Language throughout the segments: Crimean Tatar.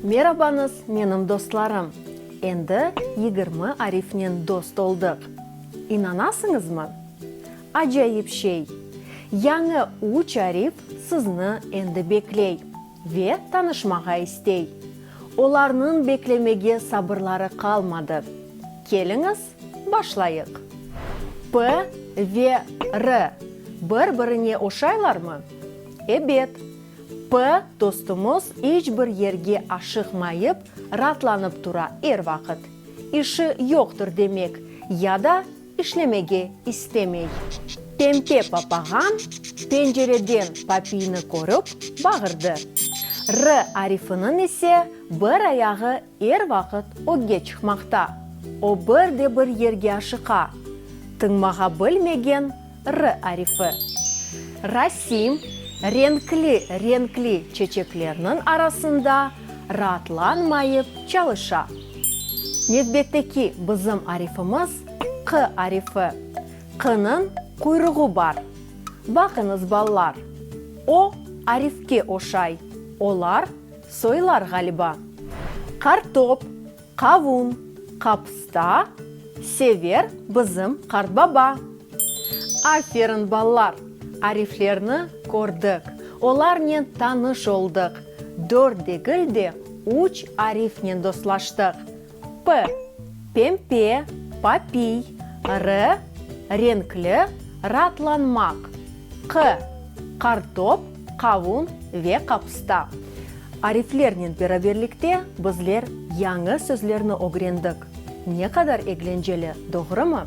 Merabañız, menim dostlarım! Endi yigirmi arifnen dost oldıq. İnanasıñızmı? Acayip şey! Yañı üç arif sizni endi bekley ve tanışmağa istey. Olarnıñ beklemege sabırları qalmadı. Keliñiz, Başlayıq. P ve R bir-birine oşaylarmı? Ebet. P dostumız iç bir yerge aşıqmayıp, raatlanıp tura er vaqıt. İşi yoqtır demek, ya da işlemege istemey. Pempe papağan pencereden papiyni körip, bağırdı. R arifiniñ ise bir ayağı Er vaqıt ögge çıqmaqta. O bir de bir yerge aşıqa. Tıñmağa bilmegen r arifi. Rasim, renkli, renkli çeçeklerniñ arasında raatlanmayıp çalışa. Nevbetteki bizim arifimiz q arifi. Q-nıñ quyruğı bar. Baqıñız, ballar, o arifke oşay, olar Soylar ğaliba. Qartop, qavun, qapısta, Sever bizim qartbaba. Aferin, balalar! Ariflerni kördik, olarnen tanış oldıq, dört degil de, üç arifnen dostlaştıq. P, pempe, papiy, R, renkli, raatlanmaq, Q, qartop, qavun ve qapusta. Ariflernen beraberlikte bizler yañı sözlerni ögrendik. Ne qadar eglenceli, doğrumı?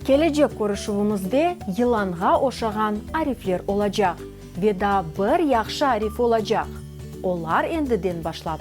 Kelecek körüşüvimizde yılanğa oşağan arifler olacaq ve daa bir yahşı arif olacaq. Olar endiden başlap